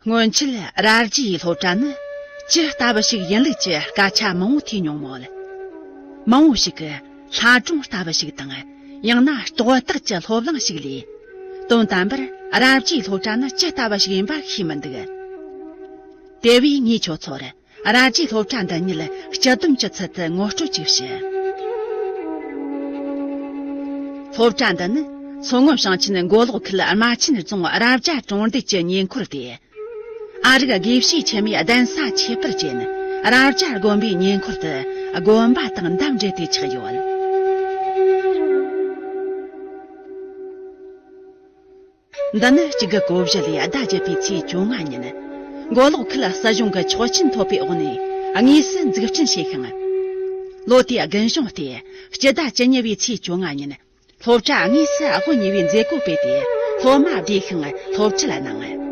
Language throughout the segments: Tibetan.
སྔོན་ཆད་ར་རྒྱའི་སློབ་གྲྭ་ནི་ཇི་ལྟ་བུ་ཞིག་ཡིན་ལུགས་ཀྱི་སྐད་ཆ་མང་བོ་ཐོས་མྱོང་མོད་མང་བོ་ཞིག་གིས་ལྷ་སྒྲུང་ལྟ་བུ་ཞིག་དང་ཡང་ན་རྟོག་བཏགས་ཀྱི་སློབ་གླིང་ཞིག་ལས། དོན་དམ་པར་རབ་རྒྱས་སློབ་གྲྭ་ནི་ཇི་ལྟ་བ་ཞིག་ཡིན་པ་ཤེས་མི་འདུག། དེ་བས་ངས་ཁྱོད་ཚོར་རབ་རྒྱས་སློབ་གྲྭ་འདི་ཉིད་སྤྱི་སྡོམ་གྱི་ཚུལ་དུ་ངོ་སྤྲོད་ཅིག་བྱེད། སློབ་གྲྭ་འདི་ནི་མཚོ་སྔོན་ཞིང་ཆེན་མགོ་ལོག་ཁུལ་རྨ་ཆེན་རྫོང་རབ་རྒྱ་གྲོང་རྡལ་གྱི་ཉེ་འཁོར་ཏེ། ཨ་རིག་དགེ་བཤེས་འཆི་མེད་གདན་ས་ཁྱད་པར་ཅན་རབ་བྱ་དགོན་པའི་ཉེ་འཁོར་དུ་དགོན་པ་དང་འདབས་འབྲེལ་དེ་ཆགས་ཡོད། འདི་ནི་གཅིག་གི་གོ་བཞི་ལས་ཟླ་བརྒྱད་པའི་ཚེས་བཅོ་ལྔ་ཉིན། མགོ་ལོག་ཁུལ་སྲིད་གཞུང་གི་ཆོག་མཆན་ཐོབ་པའི་འོག་ནས་དངོས་སུ་འཛུགས་སྐྲུན་བྱས་ཤིང། ལོ་དེའི་དགུན་གཞུང་སྟེ་སྤྱི་ཟླ་བཅུ་གཉིས་པའི་ཚེས་བཅོ་ལྔ་ཉིན། སློབ་གྲྭ་དངོས་སུ་ཨ་ཧོ་ཉི་བའི་མཛད་སྒོ་སྤེལ་ཏེ་སློབ་མ་བགྲེས་ཤིང་སློབ་ཁྲིད་ལ་གནང།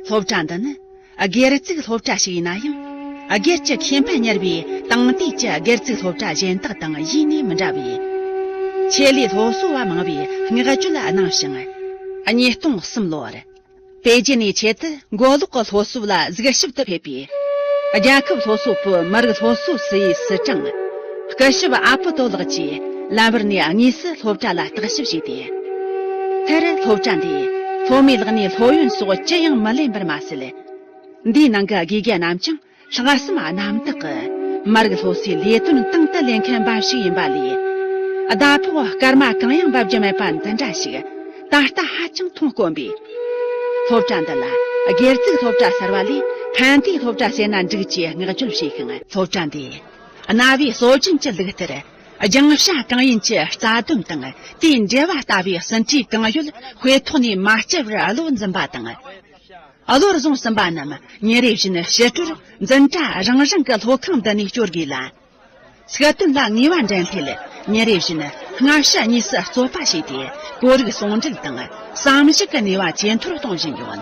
སློབ་གྲྭ་འདི་ནི་སྒེར་བཙུགས་སློབ་གྲྭ་ཞིག་ཡིན་ན་ཡང་སྒེར་གྱི་ཁེ་ཕན་གཉེར་བའི་དེང་དུས་ཀྱི་སྒེར་བཙུགས་སློབ་གྲྭ་གཞན་དག་དང་གཞི་ནས་མི་འདྲ་བས། ཆེད་ལས་སློབ་གསོ་བ་མང་བའི་བསྔགས་བརྗོད་གནང་ཞིང། ཉིས་སྟོང་གསུམ་ལོར། པེ་ཅིན་ནས་ཆེད་དུ་མགོ་ལོག་གི་སློབ་གསོ་ལ་གཟིགས་ཞིབ་ཏུ་ཕེབས་པའི། རྒྱལ་ཁབ་སློབ་གསོ་པུའུ་མི་རིགས་སློབ་གསོའི་སི་ཡིས་སི་ཀྲང། སྐུ་ཞབས་ཨ་པུ་ཏོ་ལགས་ཀྱིས་ལམ་བར་ནས་དངོས་སུ་སློབ་གྲྭ་ལ་བརྟག་ཞིབ་བྱས་ཏེ། མཐར་སློབ་གྲྭ་འདིས་སློབ་མའི་ལག་ནས་སློབ་ཡོན་སོགས་ཅི་ཡང་མི་ལེན་པར་མ་ཟད། འདིའི་ནང་གི་དགེ་རྒན་རྣམས་ཀྱང་ལྷག་བསམ་རྣམ་དག་གི་མ་རིག་སློབ་གསོའི་ལས་དོན་དང་དུ་ལེན་མཁན་འབའ་ཞིག་ཡིན་པ་ལས། ཟླ་ཕོགས་སྐར་མ་གང་ཡང་འབབ་ཀྱི་མེད་པ་འདི་འདྲ་ཞིག་ད་ལྟ་ཧ་ཅང་མཐོང་དཀོན་པས། སློབ་གྲྭ་འདི་ལ་སྒེར་བཙུགས་སློབ་གྲྭ་གསར་བ་ལས་ཕན་བདེའི་སློབ་གྲྭ་བྱས་ན་འགྲིག་ཅེས་བསྔགས་བརྗོད་བྱས་ཤིང། སློབ་གྲྭ་འདི་གནའ་བོའི་སྲོལ་རྒྱུན་གྱི་ལུགས་ལྟར་རྒྱང་ཞྭ་གང་ཡིན་གྱི་རྩ་དོན་དང་དེའི་འབྲེལ་བ་ལྟ་བུའི་ཟིན་བྲིས་གང་ཡོད་དཔེ་ཐོག་ནས་མ་བསྐྱལ་བར་བློ་འཛིན་པ་དང། བློར་བཟུང་ཟིན་པ་རྣམས་ཉིན་རེ་བཞིན་ཕྱི་དྲོར་འཛིན་གྲྭ་རང་རང་གི་སློབ་ཁང་འདི་ནས་སྐྱོར་དགོས་ལ། ཚིག་དོན་ལ་ངེས་པ་འགྲན་ཐེལ་ཉིན་རེ་བཞིན་སྔ་ཕྱི་གཉིས་སུ་རྩོད་པ་བྱས་ཏེ་བོད་རིགས་ཟུང་འབྲེལ་དང་བསམ་གཞིག་གི་ནུས་པ་ཇེ་མཐོར་གཏོང་བཞིན་ཡོད།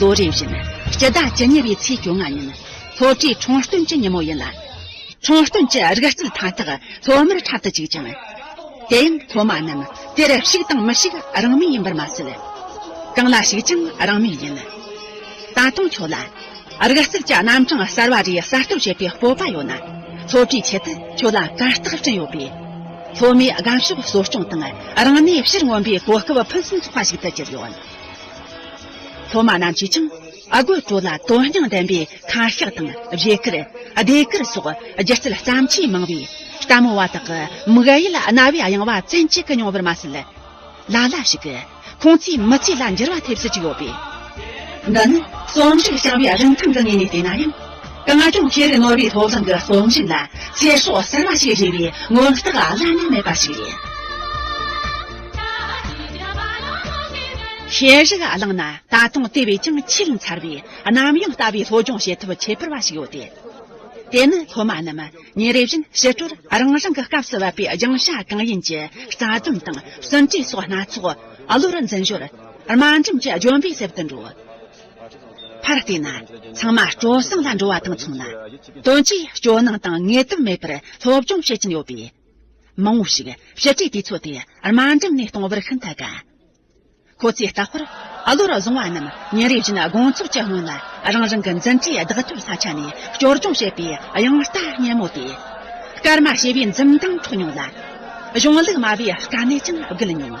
ལོ་རེ་བཞིན་སྤྱི་ཟླ་བཅུ་གཉིས་པའི་ཚེས་བཅོ་ལྔ་ཉིན་སློབ་གྲྭའི་ཁྲོམ་སྟོན་གྱི་ཉིན་མོ་ཡིན་ལ། ཁྲོམ་སྟོན་གྱི་རིག་རྩལ་མཐའ་དག་སློབ་མར་འཁྲབ་ཏུ་བཅུག་ཅིང། དེ་ཡང་སློབ་མ་རྣམས་དེར་ཞུགས་དང་མི་ཞུགས་རང་མོས་ཡིན་པར་མ་ཟད། གང་ལ་ཞུགས་ཀྱང་རང་མོས་ཡིན། ད་དུང་ཁྱོད་ལ་རིག་རྩལ་གྱི་རྣམ་གྲངས་གསར་བ་རེ་གསར་གཏོད་བྱེད་པའི་སྤོབས་པ་ཡོད་ན། སློབ་གྲྭའི་ཆེད་དུ་ཁྱོད་ལ་གར་སྟེགས་བསྐྲུན་ཡོད་པས། སློབ་མའི་སྒམ་ཤུགས་གསོ་སྐྱོང་དང་རང་གནས་ཕྱིར་མངོན་པའི་གོ་སྐབས་ཕུན་སུམ་ཚོགས་པ་ཞིག་ཏུ་གྱུར་ཡོད། སློབ་མ་རྣམས་ཀྱིས་ཀྱང་དགོད་བྲོ་ལ་དོན་སྙིང་ལྡན་པའི་ཁ་ཤགས་དང་བཞད་གད་བདེ་གད་སོགས་སྒྱུ་རྩལ་བརྩམས་ཆོས་མང་བས་ལྟད་མོ་བ་དག་གི་མིག་གཡས་རྣ་བའི་གཡེང་བ་བཙན་གྱིས་མྱོང་བར་མ་ཟད། ལ་ལ་ཞིག་ཁོང་ཚོའི་མི་ཚེ་ལ་འགྱུར་བ་ཐེབས་སྲིད་ཀྱི་ཡོད་པས། འདི་ནི་རྩོམ་རིག་བྱ་བའི་རིན་ཐང་གི་ངོས་ནས་བལྟས་ན་ཡང། རང་སྐྱོང་ཁེ་ལས་ནོར་བུའི་མཐོ་སྒང་གི་རྩོམ་རིག་ལ་ཚེ་སྲོག་གསར་པ་ཞིག་རེག་པའི་མངོན་རྟགས་བླ་ན་མེད་པ་ཞིག་རེད། ཤེས་རིག་བླངས་ན་ད་དུང་དེ་བས་ཀྱང་ཆེས་མཚར་བའི་གནམ་ཡངས་ལྟ་བུའི་སློབ་སྦྱོང་བྱེད་ཐབས་ཁྱད་པར་བ་ཞིག་ཡོད་དེ། དེ་ནི་སློབ་མ་རྣམས་ཉིན་རེ་བཞིན་ཕྱི་དྲོར་རང་རང་གི་སྐབས་སུ་བབས་པའི་སྦྱང་བྱ་གང་ཡིན་གྱི་རྩ་དོན་དང་ཟིན་བྲིས་སོགས་སྣ་ཚོགས་བློར་འཛིན་ཞོར་དམའ་འབྲིང་གི་ལྗོན་པའི་གསེབ་ཏུ་འགྲོ། ཕར་བལྟས་ན་ཚང་མ་སྤྲོ་གསེང་ལ་འགྲོ་བ་དང་མཚུངས་ལ། དོན་གྱིས་སྤྱོད་སྣང་དང་ངེས་དོན་མེད་པར་སློབ་སྦྱོང་བྱེད་ཀྱིན་ཡོད་པས། མང་བོ་ཞིག་བཤད་གྲྭའི་དུས་ཚོད་དེ་དམའ་འབྲིང་ནས་གཏོང་བར་ཤིན་ཏུ་དགའ། ཁོ་ཚོས་ལྟ་བསྐོར་ཨ་ལོར་བཟུང་བ་རྣམས་ཉིན་རེ་བཞིན་དགོང་ཚོགས་ཀྱི་སྔོན་ལ་རང་རང་གི་འཛིན་གྲྭའི་བདག་ཐོའི་ས་ཆ་ནས་སྐྱོར་སྦྱོང་བྱེད་པའི་དབྱངས་རྟ་སྙན་མོ་དེ། སྐར་མ་ཞེས་པའི་འཛུམ་མདངས་འཕྲོ་མྱོང་ལ། གཞུང་ལུགས་སྨྲ་བའི་དཀའ་གནད་ཀྱང་བརྒལ་མྱོང།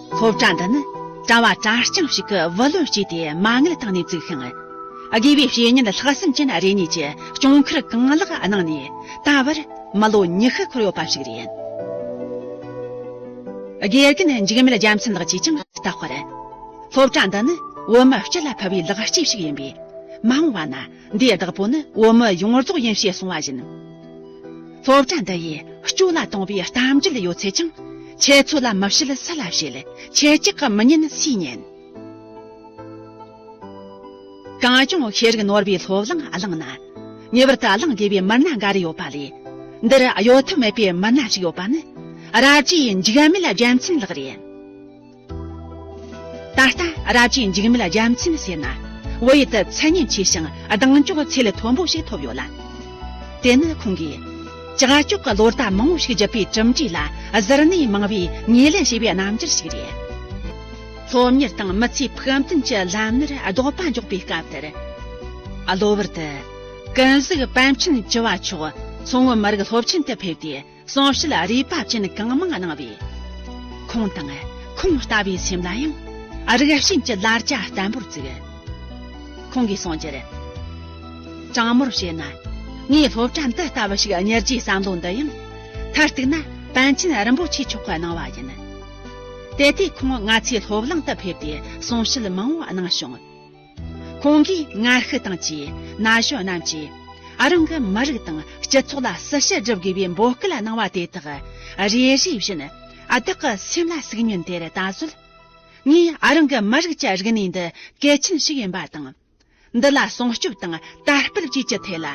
ལྷོ་བྲང་འདི་ནི་གྲང་བ་གྲང་རྐྱང་ཞིག་གི་བུ་ལོན་བསྐྱིས་ཏེ་མ་དངུལ་བཏང་ནས་བཙུགས་ཤིང། དགེ་བའི་བཤེས་གཉེན་ལྷག་བསམ་ཅན་རེ་གཉིས་ཀྱིས་གྱོང་ཁར་གང་ལེགས་གནང་ནས་ད་བར་མི་ལོ་ཉི་ཤུ་འཁོར་ཡོད་པ་ཞིག་རེད། དགེ་རྒན་འཇིགས་མེད་རྒྱལ་མཚན་ལགས་ཀྱིས་ཀྱང་བལྟ་བར། ལྷོ་བྲང་འདི་ནི་བོད་མི་སྤྱི་ལ་ཕུལ་བའི་ལག་སྐྱེས་ཤིག་ཡིན་པས་མ་འོངས་པ་ན་འདིའི་བདག་པོ་ནི་བོད་མི་ཡོངས་རྫོགས་ཡིན་ཞེས་གསུངས་བ་བཞིན། སློབ་གྲྭ་འདི་ཡིས་སྐྱོ་ལ་གཏོང་པའི་གཏམ་རྒྱུད་ཡོད་ཚད་ཀྱང། ཁྱེད་ཚོ་ལ་མི་བཤད་སུ་ལ་བཤད། ཁྱེད་ཅག་གི་མི་ཉན་སུས་ཉན། གང་བྱུང་ཤེས་རིག་ནོར་བའི་སློབ་གླིང་བླངས་ན། ངེས་པར་དུ་བླངས་དགོས་པའི་མི་སྣ་འགའ་རེ་ཡོད་པ་ལས། འདིར་གཡོལ་ཐབས་མེད་པའི་མི་སྣ་ཞིག་ཡོད་པ་ནི། ར་རྒྱའི་འཇིགས་མེད་རྒྱལ་མཚན་ལགས་རེད། ད་ལྟ་རབ་ཀྱིས་འཇིགས་མེད་རྒྱལ་མཚན་ཟེར་ན་བོད་ཡུལ་དུ་མཚན་སྙན་ཆེ་ཞིང་གདེང་འཇོག་ཚད་ལས་མཐོན་པོ་ཞིག་ཐོབ་ཡོད་ལ། དེ་ནི་ཁོང་གིས་ཀྱག་ཀྱོག་གི་ལོ་ཟླ་མང་བོ་ཞིག་བརྒྱུད་པའི་གྲུབ་འབྲས་ལ་གཟིར་ནས་མང་བས་ངོས་ལེན་བྱས་པའི་རྣམ་འགྱུར་ཞིག་རེད། སློབ་གཉེར་དང་མི་ཚེའི་ཕུགས་འདུན་གྱི་ལམ་སྣེར་རྡོག་པ་འཇོག་པའི་སྐབས་དེར། གློ་བུར་དུ། ཀུན་གཟིགས་པཎ་ཆེན་བྱི་བ་མཆོག་མཚོ་སྔོན་མི་རིགས་སློབ་ཆེན་དུ་ཕེབས་ཏེ། གསུང་བཤད་རས་པ་ཅན་གང་མང་གནང་བས། ཁོང་དང་ཁོང་ལྟ་བུའི་སེམས་ལ་ཡང་རིགས་ཞེན་གྱི་ལར་རྒྱ་བརྟན་པོར་བཙུགས། ཁོང་གིས་གསུང་རྒྱུར། དྲང་མོར་བཤད་ན། ངའི་སློབ་གྲྭ་འདི་ལྟ་བུ་ཞིག་གཉེར་རྒྱུའི་བསམ་བློ་འདི་ཡང། མཐར་གཏུགས་ན་པཎ་ཆེན་རིན་པོ་ཆེ་མཆོག་གིས་གནང་བ་ཡིན། དེ་ལྟའི་ཁོང་ང་ཚོའི་སློབ་གླིང་དུ་ཕེབས་ཏེ་གསུང་བཤད་མང་བོ་གནང་བྱུང། ཁོང་གིས་ང་ཤི་དང་བཅས་ན་གཞོན་རྣམས་ཀྱིས་རང་གི་མི་རིགས་དང་སྤྱི་ཚོགས་ལ་སྲི་ཞུ་སྒྲུབ་དགོས་པའི་འབོད་སྐུལ་གནང་བ་དེ་དག་རེ་རེ་བཞིན་བདག་གི་སེམས་ལ་ཟུག་མྱོང་དེར་ད་གཟོད་ངས་རང་གི་མི་རིགས་ཀྱི་རིག་གནས་འདི་གལ་ཆེན་ཞིག་ཡིན་པ་དང་འདི་ལ་སྲུང་སྐྱོབ་དང་དར་སྤེལ་བཅས་ཀྱི་ཐད་ལ་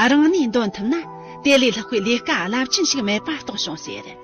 རང་ནུས་འདོན་ཐུབ་ན་དེ་ལས་ལྷག་པའི་ལས་ཀ་རླབས་ཆེན་ཞིག་མེད་པ་རྟོགས་བྱུང་ཟེར།